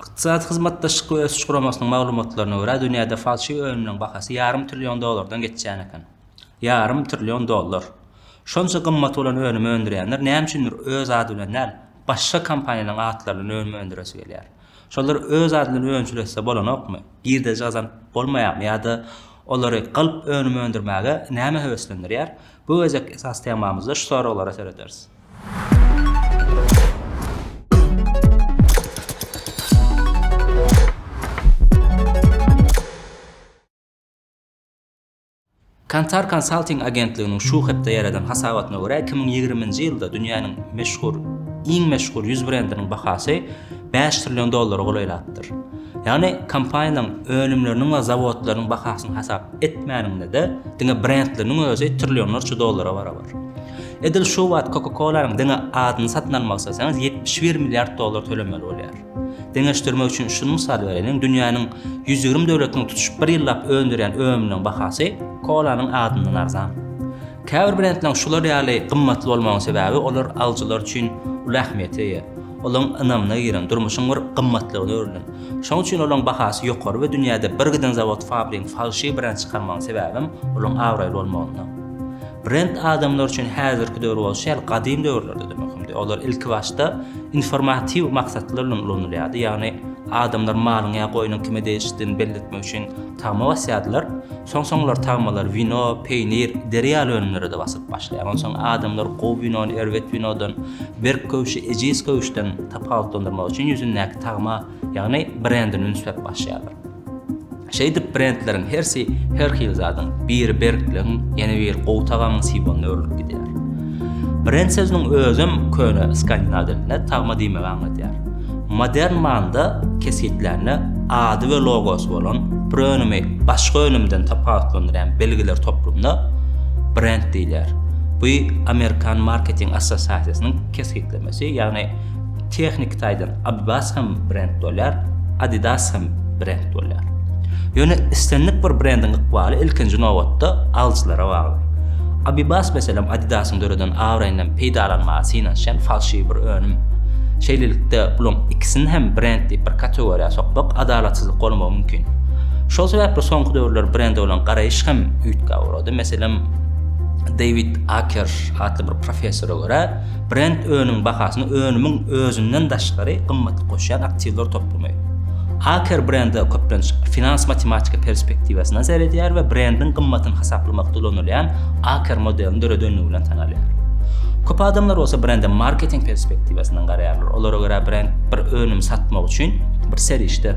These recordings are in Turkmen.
Ykdysady Hyzmatdaşlyk we Ösüş Guramasynyň maglumatlaryna görä, dünýäde falşiw önümleriň bahasy ýarym trillion dollardan geçýän eken. Ýarym trillion dollar! Şonça gymmaty bolan önümi öndürýänler näme üçindir öz ady bilen däl, başga kompaniýalaryň atlary bilen önüm öndüresi gelýär. Şolar öz ady bilen önçülese bolanokmy? Girdeji gazanyp bolmaýarmy ýa-da olary galp önüm öndürmäge näme höweslendirýär? Bu gezekki esasy temamyzda şu soraglara serederis. Kantar Consulting agentliginiň şu hepde ýaradan hasabatyna görä, iki müň ýigrimi nji ýylda dünýäniň meşhur iň meşhur ýüz brendiniň bahasy bäş trillion dollara golaýlapdyr. Ýagny kompaniýanyň önümleriniň we zawodlarynyň bahasyny hasap etmäniňde-de, diňe brendleriniň özi trillionlarça dollara barabar. Edil şu wagt Coca-Cola-nyň diňe adyny satyn almak isleseňiz, ýetmiş bir milliard dollar tölemeli bolýar. Deňeşdirmek üçin şuny mysal bereliň, dünýäniň ýüz ýigrimi döwletiniň tutuş bir ýyllap öndürýän önüminiň bahasy kolanyň adyndan arzan. Käbir brendleriň şular ýaly gymmatly bolmagynyň sebäbi olar alyjylar üçin uly ähmiýete eýe. Olaryň ynamyna giren, durmuşyň bir gymmatlygyna öwrülen. Şonuň üçin olaryň bahasy ýokary we dünýäde bir giden zawod-fabrigiň falşiw brend çykarmagynyň sebäbem olaryň abraýly bolmagynda. Brend adamlar üçin häzirki döwür bolşy ýaly gadym döwürlerde-de möhümdi. Olar ilkibaşda informatiw maksatlar bilen ulanylýardy, ýagny adamlar malyň ýa goýnuň kime degişlidigini belletmek üçin, Tagma basýardylar. Soň-soňlar tagmalar wino, peýnir, deri ýaly önümlere-de basyp başlaýar. Onsoň adamlar gowy winony erbet winodan, berk köwşi ejiz köwşden tapawutlandyrmak üçin ýüzündäki tagma, ýagny brendini ünsläp başlaýarlar. Şeýdip, brendleriň hersi her hili zadyň, biri berkligiň, ýene biri gowy tagamyň simwolyna öwrülip gidýär. Brend sözüniň özem köne skandinaw dilinde tagma diýmegi aňladýar. Modern manda kesgitlärine ady we logosy bolan bir önümi başga önümden tapawutlandyrýan belgiler toplumyna brend diýilýär. Bu Amerikan marketing assosiasiýasynyň kesgitlemesi, ýagny tehniki taýdan Abibas hem brend bolýar, Adidas hem brend bolýar. Ýöne islendik bir brendiň ykbaly ilkinji nobatda alyjylara bagly. Abibas meselem Adidas-yň döreden abraýyndan peýdalanmaga synanyşýan falşiwi bir önüm. Şeýlelikde, bularyň ikisini hem brend diýip bir kategoriýa sokmak adalatsyzlyk bolmagy mümkin. Şol sebäpli soňky döwürler brende bolan garaýyş hem üýtgäp ugrady. Meselem, Dewid Aker atly bir professora görä, Brend önümiň bahasyna önümiň özünden daşgary gymmaty goşýan aktiwler toplumy. Aker brende köplenç finans-matematika perspektiwasyndan seredýär we brendiň gymmatyny hasaplamakda ulanylýan Aker modelini döredendigi bilen tanalýar. Köp adamlar bolsa brende marketing perspektiwasyndan garaýarlar, olara görä brend bir önümi satmak üçin bir serişde.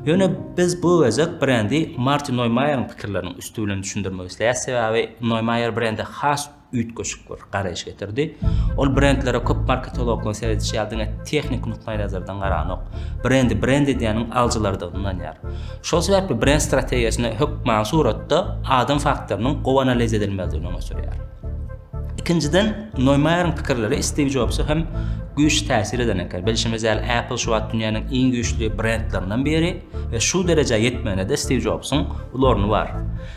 Ýöne biz bu gezek brendi Martin Noýmaýeriň pikirleriniň üsti bilen düşündirmek isleýäris, sebäbi Noýmaýer brendi has üýtgeşik bir garaýyş getirdi. Ol brendlere köp marketologlaryň seredişi ýaly diňe tehniki nukdaýnazardan garanok. Brendi brend edýäniň alyjylardygyna ynanýar. Şol sebäpli brend strategiýasyny hökmany suratda adam faktorynyň gowy analiz edilmelidigini öňe sürýär. Ikinjiden, Noýmaýeriň pikirleri Stiw Jobsa hem güýçli täsir eden eken. Bilşimiz ýaly, Apple şu wagt dünýäniň iň güýçli brendlerinden biri we şu derejä ýetmegine-de Stiw Jobsuň uly orny bar.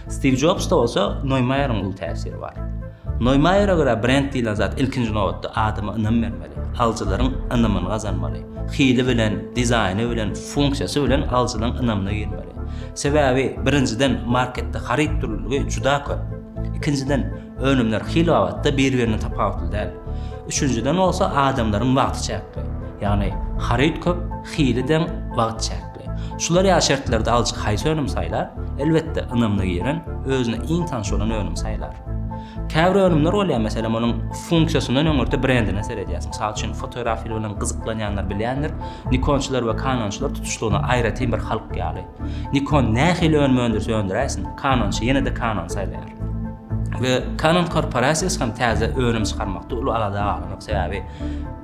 Stiw Jobsda bolsa Noýmaýeriň uly täsiri bar. Noýmaýere görä brend diýlen zat ilkinji nobatda adama ynam bermeli, alyjylaryň ynamyny gazanmaly, hili bilen, dizaýny bilen, funksiýasy bilen alyjylaryň ynamyna girmeli. Sebäbi birinjiden marketde haryt dürlüligi juda köp. Ikinjiden önümler hil babatda bir-birinden tapawutly däl. Üçünjiden bolsa adamlaryň wagty çäkli. Ýagny haryt köp, hili deň, wagt çäkli. çykdy. Şular ýaly şertlerde alyjy haýsy önümi saýlar? Elbetde, ynamly giren, özüne iň tanyş bolan önümi saýlar. Käbir önümler bolýar, meselem, onuň funksiýasyndan öňürti brendine seredýäris. Mysal üçin, fotografili bilen gyzyklanýanlar bilýändir, Nikonçylar we Kanonçylar tutuşlygyna aýratyn bir halk ýaly. Nikon nähili önüm öndürse öndüräýsin, Kanonçy ýene-de Kanon saýlaýar. We Kanon korporasiýasy hem täze önüm çykarmakda uly alada galan ýok, sebäbi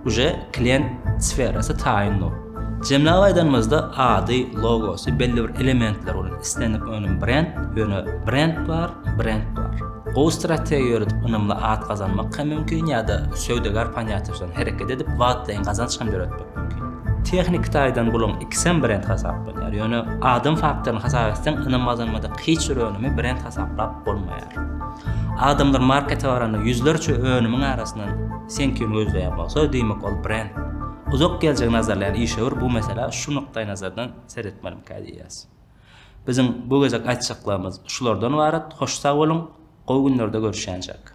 Uje klient sferasy taýyn bol. Jemläp aýdanymyzda ady, logosy, belli bir elementler bolan islendik önüm brend, ýöne brend bar, brend bar. Gowy strategiýa ýöredip ynamly at gazanmak hem mümkin ýa-da söwdagär ponýatiýasy bilen hereket edip wagtlaýyn gazanç hem döretmek mümkin. Tehniki taýdan bularyň ikisem brend hasaplanýar, ýöne adam faktoryny hasap etseň ynam gazanmadyk hiç bir önümi brend hasaplap bolmaýar. Adamlar markete baranda ýüzlerçe önümiň arasyndan Sen kimi gözleýän bolsa, diýmek ol brend. Uzak geljegi nazarlaýan işewür bu meselä şu nukdaýnazardan seretmelimikä diýýäs. Biziň bu gezek aýtjaklarymyz şulardan ybarat, hoş sag boluň, gowy günlerde görüşýänçäk.